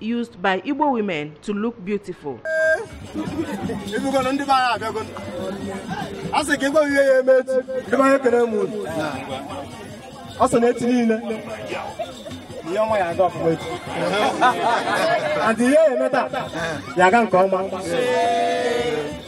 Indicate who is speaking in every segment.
Speaker 1: used by Igbo women to look beautiful. ọ sị na echi niile ihe ọma ya aga ọfụma echi and ihe ya eme taa ya aga nke ọma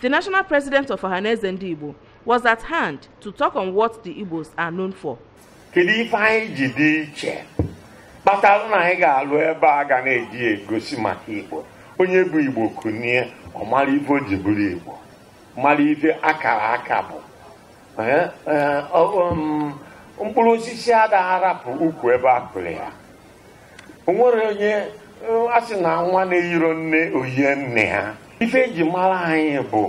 Speaker 1: The national president of Ohaneze Ndị Igbo was at hand to talk on what the Igbos are known for. Kedu ife anyị ji dị iche kpatara na anyị ga-alụ
Speaker 2: ebe a ga na-eji egosi maka Igbo onye bụ Igbo kunie ọ mara ife o ji bụrụ Igbo mara ife akara aka bụ mkpụrụ osisi ada arapụ ukwu ebe a kụrụ ya o nwere onye a sị na nwa na-eyiro nne o yie nne ha ife eji mara anyị bụ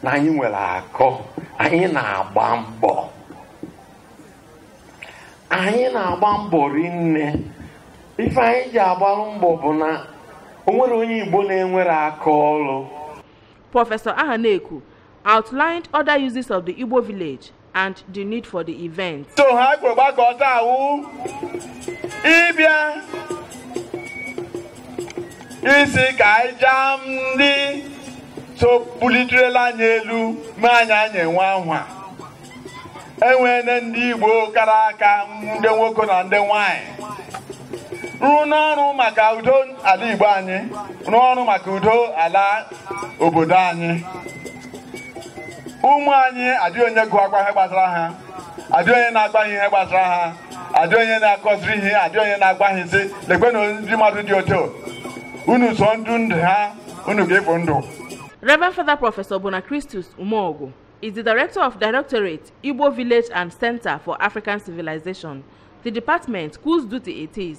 Speaker 2: na anyị nwere akọ anyị na-agba mbọ anyị na-agba mbọ rinne ife anyị ji agbalụ mbọ bụ na o nwerọ onye Igbo na-enwerọ aka ọrụ
Speaker 1: Professor Ahaneku outlined other uses of the Igbo village and the need for the event. So ha kwuru
Speaker 2: gbakọta wụ ịbịa ịsị ka anyị jaa ndị so buliterela anyị elu ma anyị anyị enwe ahụ enwere ndị Igbo kara aka ndị nwoke na ndị nwanyị rụọ n'ọrụ maka udo ala Igbo anyị rụọ ọrụ maka udo ala obodo anyị ụmụ anyị adị onye ga-agwa ha ihe gbasara ha adị onye na-agwa ha ihe gbasara ha adị onye na-akụziri ihe adị onye na-agwa ha sị lekwe na ndị mmadụ dị otu unu so ndụ ndị a unu ga-efu ndụ Reverend
Speaker 1: Father Professor Bona Christus Umeogu is the Director of Directorate Igbo Village and Center for African Civilization, the department whose duty it is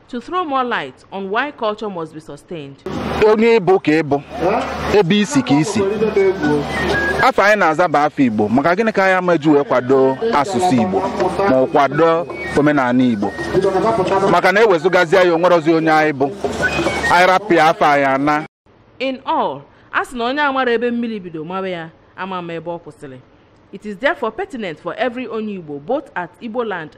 Speaker 1: to throw more light on why culture must be sustained. onye ị bụ
Speaker 3: ka ị bụ ebe i si ka i si afa anyị na-aza bụ afa Igbo maka gịnị ka anyị ama eji wee kwado asụsụ Igbo ma ọ kwado omenala Igbo maka na ewezugazie ya o nwerọzi onye anyị bụ
Speaker 1: anyị rapụ
Speaker 3: ya
Speaker 1: afa anyị ana In
Speaker 3: all,
Speaker 1: a sị na onye amara
Speaker 3: ebe
Speaker 1: mmiri bido mawa
Speaker 3: ya
Speaker 1: ama ama ebe ọ kwụsịrị. It is therefore pertinent for every Onye Igbo both at Igbo land